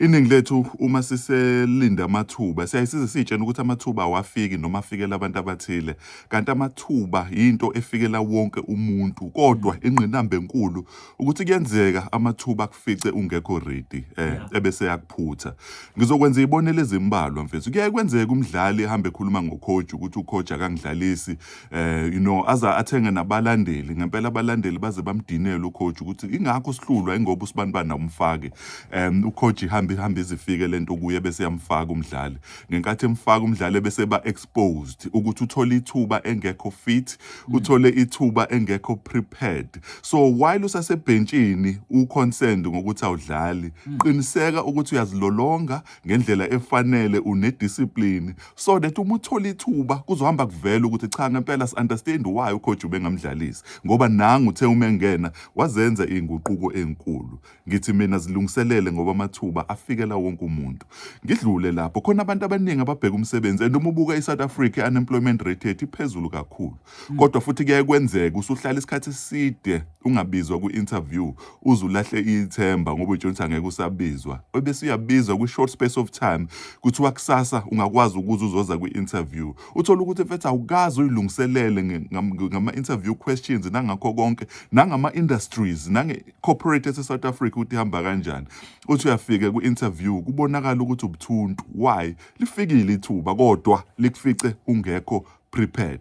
Iningi lethu uma siselinde amathuba siyaye size siyitshena ukuthi amathuba awafiki noma afikela abantu abathile kanti amathuba yinto efikela wonke umuntu kodwa mm. ingqinamba enkulu ukuthi kuyenzeka amathuba akufice ungekho ready eh ebese yakuphutha ngizokwenza ibonelo ezimbalwa mfethu kuyaye kwenzeka umdlali ehambe ekhuluma ngocoach ukuthi ucoach akangidlalisi eh you know aze athenge nabalandeli ngempela abalandeli baze bamdinele ucoach ukuthi ingakho sihlulwa ingoba usibani bani umfake um ucoach ihambe ihambe izifike lento kuye bese yamfaka umdlali ngenkathi emfaka umdlali bese ba exposed ukuthi uthole ithuba engekho fit mm. uthole ithuba engekho prepared so while usasebhentshini u concerned ngokuthi awudlali mm. qiniseka ukuthi uyazilolonga ngendlela efanele une discipline so that uma uthola ithuba kuzohamba kuvela ukuthi cha ngempela si understand why ucoach ubengamdlalisi ngoba nangu uthe uma engena wazenza izinguquko ezinkulu ngithi mina zilungiselele ngoba amathuba afikela wonke umuntu ngidlule lapho khona abantu abaningi ababheka umsebenzi and uma ubuka iSouth Africa unemployment rate yethu iphezulu kakhulu kodwa futhi kuyaye kwenzeka usuhlala isikhathi eside ungabizwa kwi-interview uze ulahle ithemba ngoba utshela ukuthi angeke usabizwa ebese uyabizwa kwi-short space of time kuthiwa kusasa ungakwazi ukuze uzoza kwi-interview uthole ukuthi mfethu awukazi uyilungiselele ngama-interview questions nangakho konke nangama-industries nange-corporate ese-south africa ukuthi ihamba kanjani uthi uyafika kwi-interview kubonakala ukuthi ubuthuntu why lifikile ithuba kodwa likufice ungekho prepared.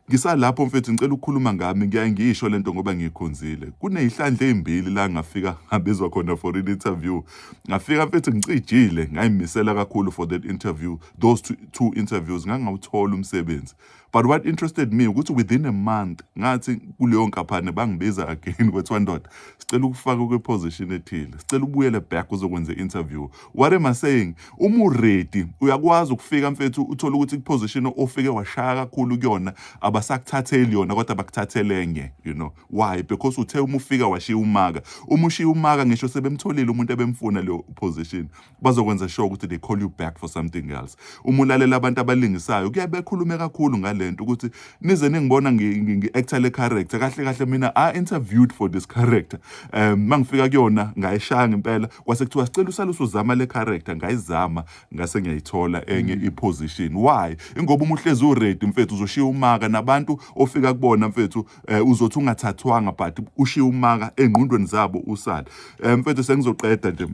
Ngisalapho mfethu ngicela ukukhuluma ngami ngiyaye ngiyisho lento ngoba ngiyikhonzile. Kuneyihlandla ezimbili la ngafika ngabizwa khona for an interview. Ngafika mfethu ngicijile ngayimisela kakhulu for that interview. Those two, two interviews ngangawuthola umsebenzi. But what interested me ukuthi within a month ngathi kuleyo nkaphane bangibiza again kwethiwa ndoda sicela ukufaka kwi position ethile. Sicela ubuyele back uzokwenza interview. What am I saying? Uma uready uyakwazi ukufika mfethu uthole ukuthi kuposition ofike washaya kakhulu kuyona abasakuthatheli yona kodwa bakuthathele enye you know why because uthe uma ufika washiya umaka uma ushiya umaka ngisho sebemtholile umuntu ebemfuna leyo position bazokwenza sure ukuthi they call you back for something else uma ulalela abantu abalingisayo kuye bekhulume kakhulu ngalento ukuthi nize ningibona ngi-actor le character kahle kahle mina i interviewed for this character um mangifika kuyona ngayishaya ngempela kwase kuthiwa sicela usale usuzama le character ngayizama ngase ngiyayithola enye mm. iposition why ingoba uma uhlezi uready mfethu uzoshiya umaka nabantu ofika kubona mfethu eh, uzothi ungathathwanga but ushiya umaka engqondweni zabo usala eh, mfethu sengizoqeda nje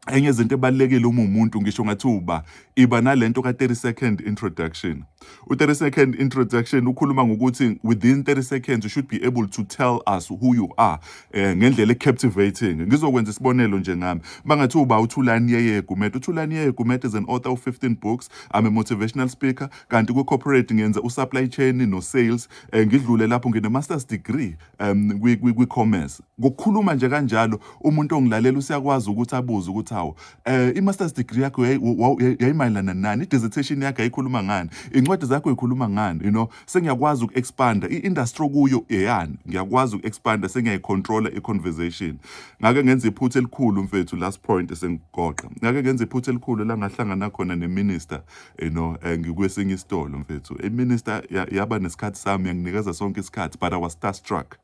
enye izinto ebalekile uma umuntu ngisho ngathi uba iba nalento ka 30 second introduction. U 30 second introduction ukhuluma ngokuthi within 30 seconds you should be able to tell us who you are eh, ngendlela captivating. Ngizokwenza isibonelo nje ngami. Mangathi uba uThulani Yeye Gumede. UThulani Yeye Gumede is an author of 15 books. I'm a motivational speaker kanti ku corporate ngenza u supply chain no sales. Eh, ngidlule lapho ngine master's degree um kwi-commerce ngokukhuluma nje kanjalo umuntu ongilalela usiyakwazi ukuthi abuze ukuthi hawu um i-masters degree yakho yayimayelana nani i-dissertation yakho yayikhuluma ngani iy'ncwadi zakho yikhuluma ngani you know sengiyakwazi uku-expanda i-industry okuyo eyani ngiyakwazi uku-expanda sengiyayicontrola i-conversation ngake ngenza iphutha elikhulu mfethu last point esengigoqa ngake ngenza iphutha elikhulu la ngahlangana khona ne-minister you know eh, ngikwesinye isitolo mfethu iminister yaba nesikhathi sami yanginikeza sonke isikhathi but i was starstruck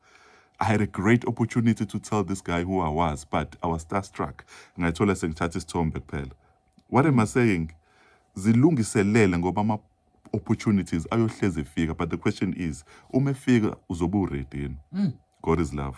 I had a great opportunity to tell this guy who I was, but I was starstruck. Ngayithola sengithatha isithombe kuphela. What am I saying? Zilungiselele ngoba ama opportunities ayohleze efika but the question is uma efika uzobe uready yini? Mm. God is love.